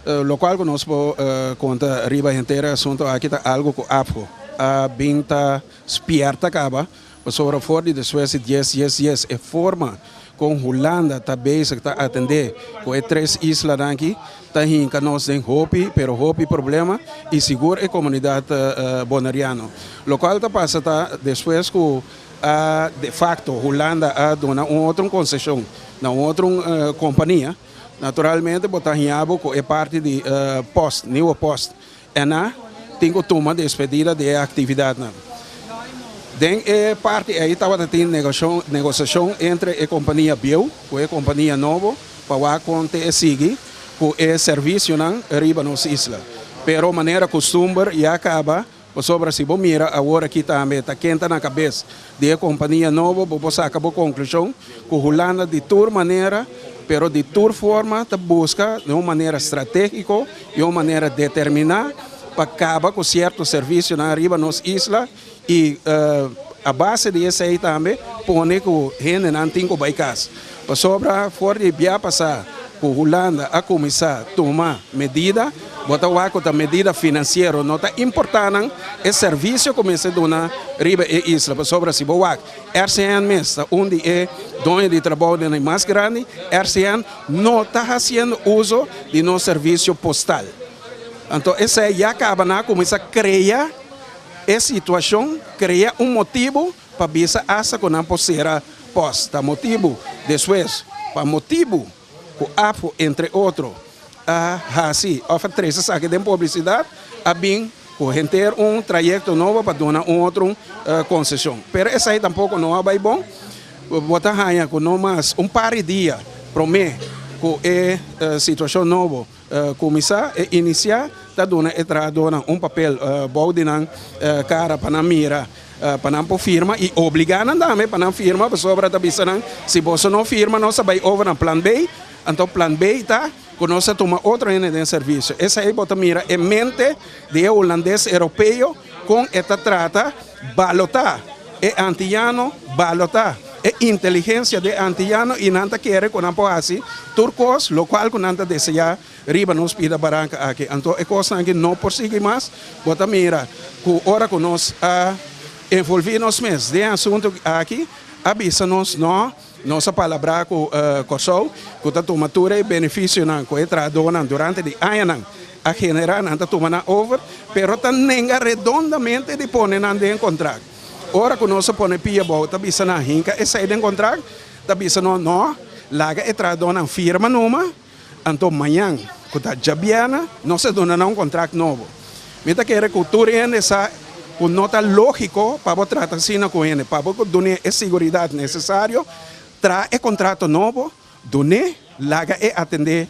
Lokual ku nos por konta riba henter e asuntu aki ta algu ku Afko a bin ta spièrta kaba, pasobra for di despues di dies dies dies e forma kon Hulanda ta bezig ta atendé ku e tres islanan aki ta hinka nos den hopi pero hopi problema i sigur e komunidat Bonariano. Lokual ta pasa ta despues ku a de facto Hulanda a duna un otro un konseshon na un otro kompania, Naturalmente bo ta haña bo ku e parti di post, niuwe post, ena tin ku tuma despedida di e aktividatnan. Den e parti ei tabata tin negosiashon entre e kompania bieu ku e kompania nobo pa wak kon te e sigui ku e servisionan riba nos isla. Pero manera kustumber ya kaba Pasobra si bo mira awor aki tambe ta kenta na kabes di e kompania nobo, bo por saka bo konklushon ku Hulanda di tur manera, pero di tur forma ta buska den un manera stratégiko i un manera determiná pa kaba ku sierto servisionan riba nos isla i a base di esei tambe pone ku hendenan tin ku bai kas. Pasobra for di bia pasá ku Hulanda a kuminsá tuma medida, bo ta wak ku ta medida finansiero, no ta importá nan e servisio ku mester duna riba e isla. Pasobra si bo wak, RCN mes ta un di e doño di trabounan mas grandi, RCN no ta hasiendo uso di nos servisio postal. Anto esei ya kaba nan a kuminsá krea e situashon, krea un motibu, Pa bisa asta ku nan por sera pos ta motibu. Despues, pa motibu ku Afo, entre otro, a hasi òf a trese esaki den publisidat, a bin ku henter un trayekto nobo pa duna un otro un konseshon. Pero esei tampoko no a bai bon. Bo ta haña ku no mas un par di dia promé ku e situashon nobo Kuminsá, e inisiá ta duna e trahadónan un papel bou di nan kara pa nan mira, pa nan por firma, i obligá nan tambe pa nan firma, pasobra ta bisa nan, Si boso no firma, nos a bai over na Plan B. Anto Plan B ta ku nos ta tuma otro hende den servisio. Esei bo ta mira e mente di e hulandes europeo kon e ta trata. Balota e antiyano, balota e inteligensia di e antiyano i nan ta kere ku nan por hasi tur kos lokual ku nan ta deseá riba nos bida baranka aki. Anto e kosnan aki no por sigui mas. Bo ta mira ku ora ku nos a envolví nos mes den e asuntu aki a bisa nos, No, Nos a palabrá ku Kòrsou ku ta tuma tur e benefisionan ku e trahadónan durante di añanan a generá, nan ta tuma nan over, pero ta nenga redondamente di pone nan den kontrakt. Ora ku nos a pone pia abou ta bisa nan hinka esei den kontrakt, ta bisa nos, Nò, laga e trahadónan firma numa. Anto mañan, ku ta djabièrnè, nos a duna nan un kontrakt nobo. Mi ta kere ku tur hende sa ku no ta lógiko pa bo trata asina ku hende. Pa bo dun'é e siguridat nesesario, traha e kontrato nobo, dun'é, laga e atendé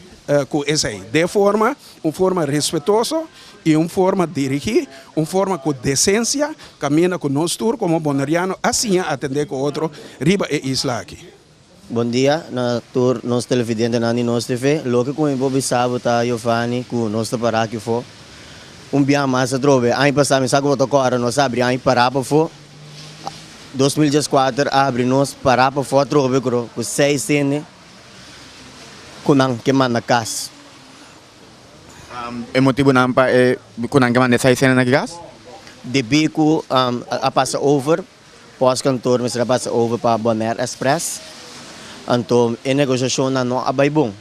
ku esei den forma, un forma respetuoso i un forma dirigí, un forma ku desensia, kaminda ku nos tur komo Boneriano a siña atendé ku otro riba e isla aki. Bondia na tur nos televidentenan di nos TV. Loke ku mi por bisa bo ta Yofani ku nos ta para aki afó un biaha mas atrobe. Aña pasá mi sa ku bo ta kòrda nos a abri aña pará pafó. Dos mil dies kuater a abri nos pará pafó atrobe ku ku seis hende ku nan ke manda kas. E motibunan pa e ku nan ke manda e seis hendenan ke kas? Debí ku a pasa over. Postkantoor mester a basa over pa Bonaire Express, anto e negociacionnan no a bay bon.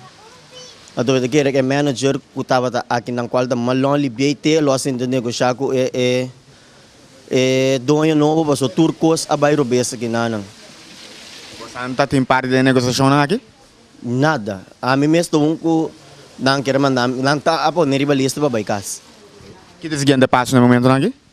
Anto beta kere cu e manager cu tabata aki nan cual ta mas long libiey te lo a sinti negocia cu e e doño nobo pasobra tur cos a bay robes aki na nan. Boso a ta tin parti den e negociacionnan aki? Nada. Ami mes ta un cu nan kere manda, nan ta a pone riba lista pa bay cas. Kit e siguiente pasonan momentonan aki?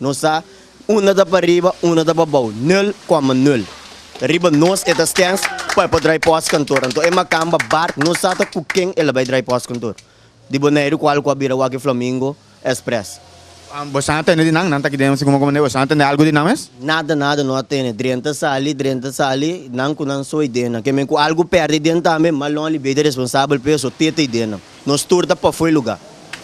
Nos sa, Unda ta pa riba, unda ta pa bou, nul coma nul. Riba nos e ta stens pa e por drai pos kantor. Anto e makamba Bart no sa ta ku ken e la bai drai pos kantor di Boneiru kual ku a bira wak e Flamingo Express. Bo sa tende di nan? Nan ta ki den Siguma Komandé? Bo sa tende algu di nan mes? Nada, nada no a tende. Dren ta sali, dren ta sali, nan ku nan so i den nan. Kenben ku algu perde i den tambe, malon li bai ta responsabel p'e so tete i den nan. Nos tur ta pafui luga.